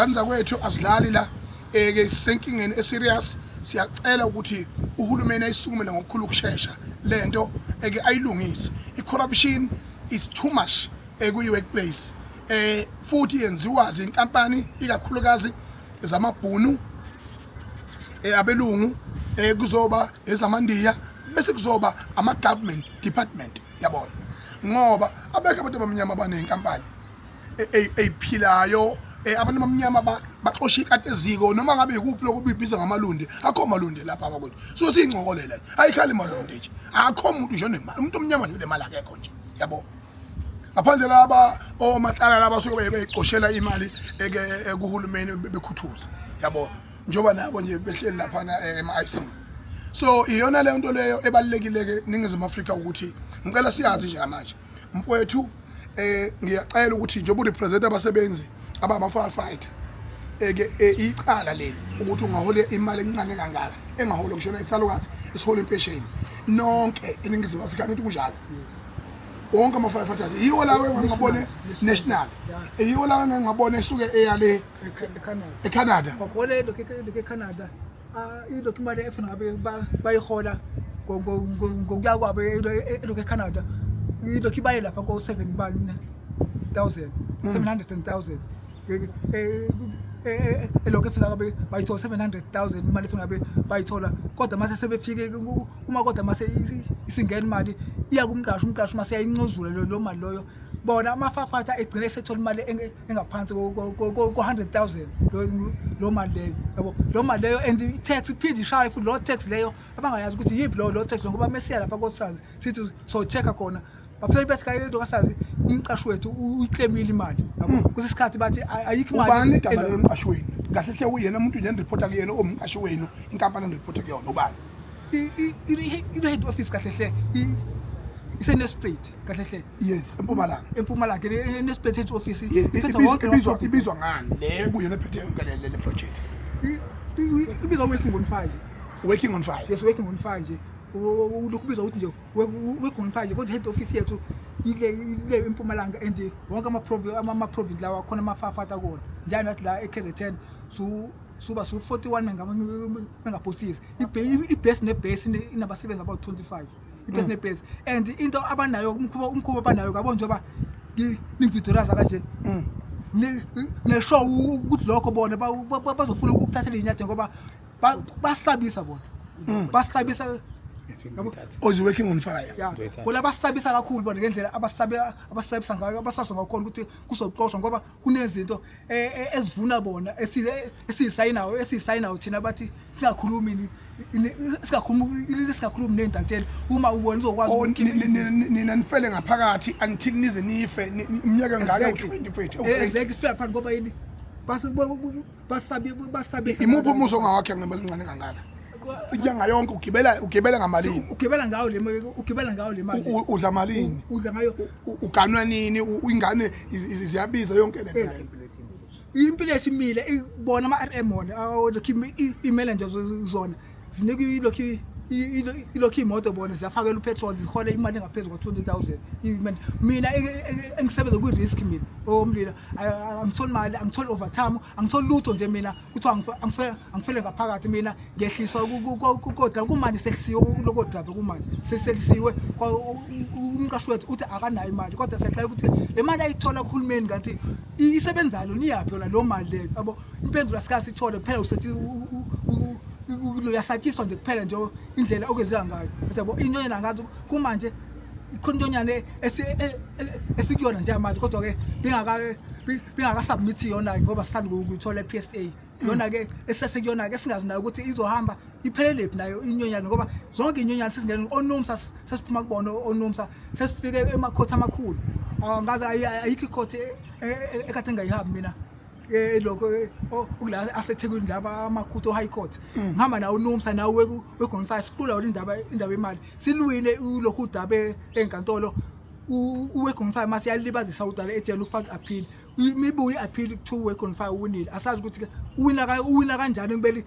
ngane zakwethu asidlali la eh, ke sisenkingeni eserious siyacela ukuthi uhulumeni ayisukumele ngokukhulu ukushesha lento eke ayilungise icorruption is too much ekuyi-workplace eh futhi yenziwa zinkampani ikakhulukazi zamabhunu eh, abelungu eh, kuzoba ezamandiya bese kuzoba ama-government department yabona ngoba abekho abantu abamnyama abaney'nkampani eyiphilayo e, e, abantu abamnyama baxosha ikati eziko noma ngabe yikuphi lokho bibiza ngamalundi akho malundi lapha abakwethu so siyincokolela nje ayikhali malundi nje akho muntu nje onemali umuntu omnyama nje unemali akekho nje yabo ngaphandle laba omatlala laba suke beyicoshela imali ekuhulumeni bekhuthuza yabo njengoba nabo nje behleli laphana eh, ema-ic so iyona leyo nto leyo ebalulekile-ke ningizimu afrika ukuthi ngicela siyazi njengamanje mfowethu eh ngiyacela ukuthi njengoba urepresent abasebenzi abama firefighter eke eh, icala leli ukuthi ungahola imali encane kangaka engahola ngishona isalukazi esihola impesheni nonke eningizimu Afrika ngithi kunjalo wonke ama firefighters yiwo lawo engingabone national yiwo lawo engingabone esuke eyale eCanada eCanada kwakhona lokho eCanada Ah, ilokhu imali efuna ngabe bayihola ngokuya kwabo elokhu ecanada ilokhu ibaye lapha ko-seven bani thousand mm. seven hundred and thousand elokhu efisa ngabe bayithola seven hundred thousand imali efuna ngabe bayithola kodwa mase sebefike uma kodwa mase isingena imali iya kumqashi umqashi mase yayincuzule loo mali loyo bona amafafatha egcine esethola imali engaphansi ko-100,000 lo mali leyo yabo lo mali leyo and i-tax iphinde ishaye futhi loo tax leyo abangayazi ukuthi yiphi lowo loo tax ngoba mesiya lapha kosazi sithi so-check-a khona bafuna ibe sikayo into kasazi umqashi wethu uyiclaimile imali yabo hmm. kuse sikhathi bathi ayikho imali ubani igama lomqashi wenu kahle hle uyena umuntu nje eniripota kuyena omqashi wenu inkampani eniripota kuyona ubani i-head office kahle hle isenesprate kahle hle yes empumalanga empumalanga nesiphethe office iphethe wonke ibizwa ibizwa ngani le kuyona ephethe yonke le le project ibizwa working on fire working on fire yes working on fire nje lokubizwa ukuthi nje working on fire kodwa head office yethu ile ile empumalanga and wonke ama province ama province lawa khona amafafata kona njalo nathi la eKZN so suba so 41 mengaphosisi ibase nebase inabasebenzi about 25 iphesi mm. nephesi and into abanayo umkhuba umkhuba abanayo kabo njengoba ningividoraza kanje mm. nesho ukuthi lokho bona bazofuna ukuthathela inyathi ngoba basabisa bona mm. basabisa oz oh, working on fire bona basabisa kakhulu bona ngendlela abasabisa ngayo abasaso ngakhona ukuthi kuzoxoshwa ngoba kunezinto eh, eh, ezivuna bona esiyisayinayo esiyisayinayo thina bathi singakhulumi singakhulumi singakhulumi nezintatheli uma ubona uzokwazi oh, nina nifele ngaphakathi angithini nize nife iminyaka engaka 20 kwethu ezeke sifela phansi ngoba yini basabe basabe imuphi umuso ngawakhe ngemali encane kangaka inyanga yonke ugibela ugibela ngamalini ugibela ngayo le ugibela ngayo le mali udla malini udla ngayo uganwa nini ingane ziyabiza yonke le nto impilo esimile ibona ama-rm wona lokhu imele nje zona zinika ilokhu ilokhu iy'moto bona ziyafakela upetrol zihole imali engaphezu kwa-twenty thousand mina engisebenza kwi-risk mina owomlilo angitholi mali angitholi overtime angitholi lutho nje mina kuthiwa angife- angife- angifele ngaphakathi mina ngehliswa ku- ku- ku- ku- kodwa kumanje selisiwe lokodrabe kumanje seselisiwe kwa- u- u- umqashi wethu uthi akanayo imali kodwa siyaqala ukuthi le mali ayithola kuhulumeni kanti i- isebenzalo niyaphi yona loo mali leyo yabo impendulo asikaze sithole kuphela usethi u- u- u- u- uyasatshiswa nje kuphela nje indlela okwenzeka ngayo Uthi yabo into yena ngathi kumanje ikhona into nyane e, e, esikuyona nje manje kodwa ke bengaka bengaka submit yona ngoba sisanda ukuyithola ePSA yona ke esesekuyona ke singazi nayo ukuthi izohamba iphelelephi nayo inyonyana ngoba zonke inyonyana sesingena onomsa sesiphuma kubona onomsa sesifike emakhothi amakhulu angazi ayikho ikhothi e, ekade engayihambi mina eh lokho ukula eh, asethekwini laba amakhutho high court mm. ngihamba nawo unomsa nawe wegonfire siqula wona indaba indaba yemali silwile lokhu udabe enkantolo uwegonfire masiyalibazisa udala ejele ufaka appeal imibuye appeal to wegonfire uwinile asazi ukuthi uwina uwina kanjani kubeli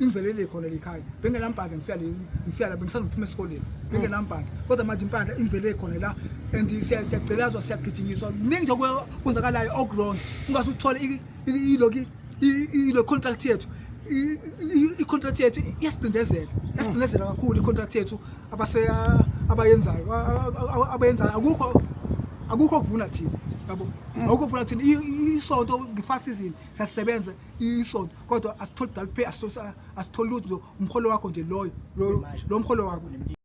ingivelele khona likhaya bengenambhanga ngifika ngifika la bengisanda ukuphuma esikoleni bengenambhanga kodwa manje impahla ingivelele khona la and siyagcelazwa siyagijinyiswa kuningi nje kwenzakalayo okuwrong ungase uthole iloki ilo contract yethu i-contract yethu iyasicindezela yasicindezela kakhulu i-contract yethu abayenzayo abayenzayo akukho akukho kuvuna thina yabo mm. akukho kuvuna thina isonto nge-fast season siyasebenza isonto kodwa asitholi daliphe asitholi lutho umholo wakho nje loyo lo mholo wakho